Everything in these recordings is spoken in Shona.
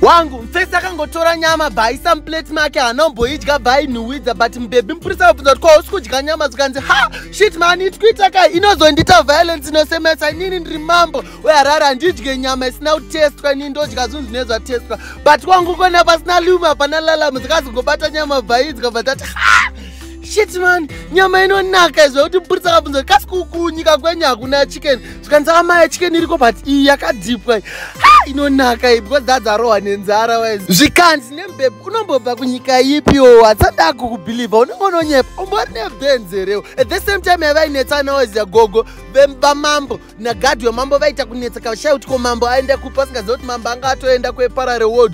wangu mfesi akangotora nyama bhaisa muplate make haana umboidya bhainhuwidza but mubebi mupurisa vabvunza kuti kwausi kudya nyama zvikanzi ha shit mani itikuita ka inozondiita violence inosemesa inini ndiri mambo weharare handidye nyama isina kutestwa inini ndodya zvinhu zvine zvatestwa but kwangu kona pasina lume hapana lalamu dzikazongobata nyama bhaidya but ati ha shit mani nyama inonaka izvo kuti mupurisa vabvunza kuti kasi kukunyika kwenyu hakuna chicken zvikanzi amai chicken iriko but iyi yakadhipwa inonaka iyi because dadzarohwa nenzara wise zvikanzi nembebe unombobva kunyika ipi o hatsada kukubhilivha unenge unonyepa umbori nebenzi herewo at the same time yavainetsana wise yagogo vamambo nagadhi wemambo vaita kunetseka vashaya kuti ko mambo aenda kupi asingaziva kuti mambo anga atoenda kweparare ward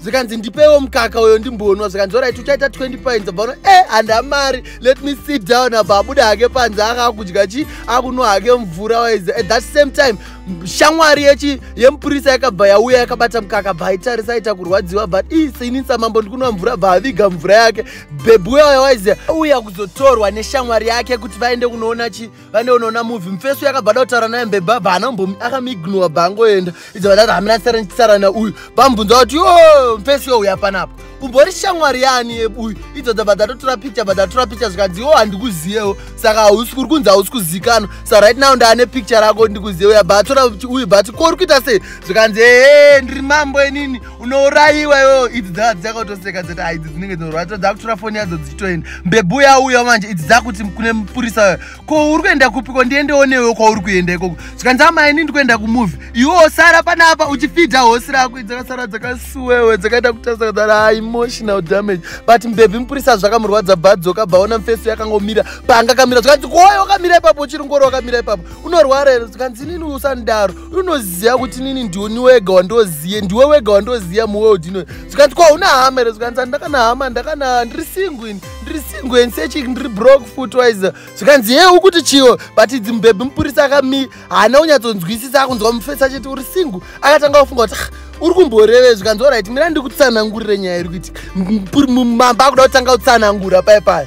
zvikanzi ndipewo mukaka uyo ndimbonwa zvikanzi orit uchaita 20 points abva e eh, handa mari let me sit down abva abude hake panze aka akudya chi akunwa hake mvura waize at that same time shamwari yechi yemupurisa yakabva yauya yakabata mukaka abva aitarisa aita kurwadziwa but i seinisa mambo ndikunwa mvura abva aviga mvura yake bebwe waya waize uya kuzotorwa neshamwari yake kuti vaende kunoona chi pane unoona muvi mufeso yakabva da kutaura naye mbeba bana mbomi akamignowa bangoenda idza vadati hamina tsara nauyu bambunza kuti yo mufeso yo uya panapa umbori shamwari yaani yebuyu idzo dzabva dzatotora picture bva dzatora picture zvikanzi yo handikuziyewo saka hausi kuri kunzi hausi kuzikanwa sa right now ndaane picture rako ndikuziyewo yabva atora uyu bati ko uri kuita sei zvikanzi ee ndiri mambo inini unourayiwa iwewo idzi dzava dzakatoseka dzati hai idzi dzinenge dzinouraya to dzakutora foni yadzo dzichitoenda mbebhu yauya manje idzi dzakuti kune mupurisa wayo ko uri kuenda kupiko ndiendewo newewo kwauri kuenda ikoko zvikanzi amai ini ndikuenda kumovhi iwewo sara pana apa uchifidha hosi rako dzakasara dzakasuwewe dzakaita kutarisa kudara emotional damage but mbebhi mupurisa zvakamurwadza bhadzoka bvaona mufeso yakangomira paanga kamira zvikanzi koyo wakamira ipapo uchiri ngoro wakamira ipapo unorwara here zvikanzi inini usanidaro unoziva kuti nini ndioni wega wandoziye ndiwe wega wandoziya muworld ino zvikanzi kwa una hama here zvikanzi andakana hama ndakana ndiri singwin ndiri singwen sechik ndiri brok footwiser zvikanzi ye ukuti chiyo but idzi mubhebhi mupurisa akami haana kunyatsonzwisisa akunzwa mufesi achiti uri singu akatanga kufunga kuti uri kumboreve zvikanzi orit mina ndikutsanangurire nyaya iri kuitika mamba akuda kutanga kutsanangura paipaya